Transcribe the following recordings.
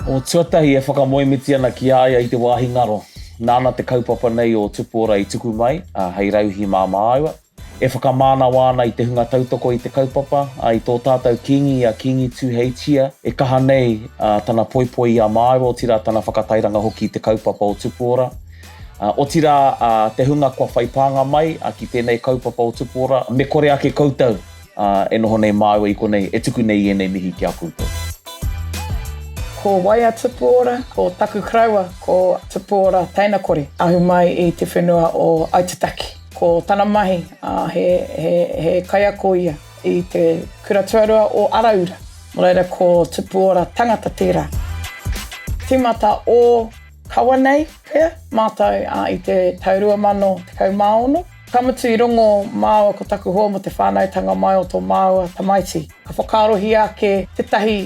O tuatahi e whakamoemiti ana ki a ia i te wāhi ngaro, nāna te kaupapa nei o Tupuora i tuku mai, ā, hei rauhī māmāua. E whakamānawa ana i te hunga tautoko i te kaupapa, ā, i tō tātou Kīngi i a Kīngi Tūheitia, e kaha nei, ā, tana poipoi i a māua, otirā tana whakatairanga hoki i te kaupapa o Tupuora. Otirā, te hunga kua whai pānga mai ki tēnei kaupapa o Tupu Ora, me kore ake koutou e noho nei māua i konei e tuku nei i ēnei mihi ki a koutou. Ko wai a Tupu Ora? Ko taku koroua, ko Tupu Ora Teina Kore, ahu mai i te whenua o Aitutaki. Ko tana mahi, he kaiako ia i te kura tuarua o Araura. Nō reira, ko Tupu Ora tangata tērā. Tīmata ō. Kawa nei pea mātou ā i te tau 2016, ka mutu i rongo māua ko taku hoa mō te whānautanga mai o tō māua tamaiti. Ka whakaarohia ake tētahi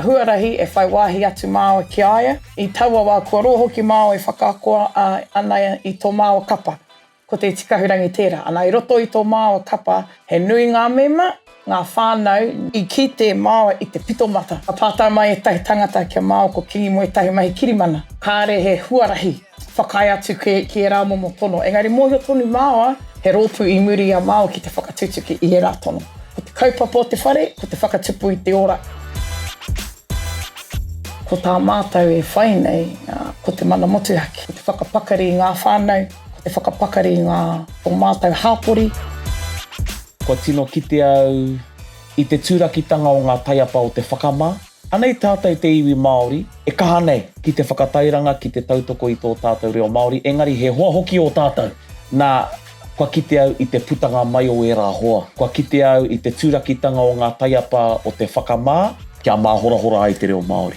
huarahi e whai wāhi atu māua ki a ia i taua wā kua roa hoki māua e whakaako ana i tō māua kapa. Ko Te Tikahurangi tērā. Ana, i roto i tō māua kapa, he nui ngā mema, ngā whānau, i kite māua i te pito mata. Ka pātai mai ētahi tangata kia māua ko Kingi Moe Tahi Mahi Kirimana. Kāre he huarahi whakaae atu ki ērā momo tono, engari mōhio tonu māua he rōpū i muri i a māua ki te whakatutuki i ērā tono. Ko te kaupapa o te whare, ko te whakatupu i te ora. Ko tā mātou e whai nei, ko te mana motuhake, ko te whakapakari i ngā whānau, Ko te whakapakari i ngā o mātou hāpori. Kua tino kite au i te tūrakitanga o ngā taiapa o te whakamā. Anei tātou te iwi Māori e kaha nei ki te whakatairanga, ki te tautoko i tō tātou reo Māori, engari he hoa hoki ō tātou. Nā, kua kite au i te putanga mai o ērā hoa. Kua kite au i te tūrakitanga o ngā taiapa o te whakamā. Kia māhorahora ai te reo Māori.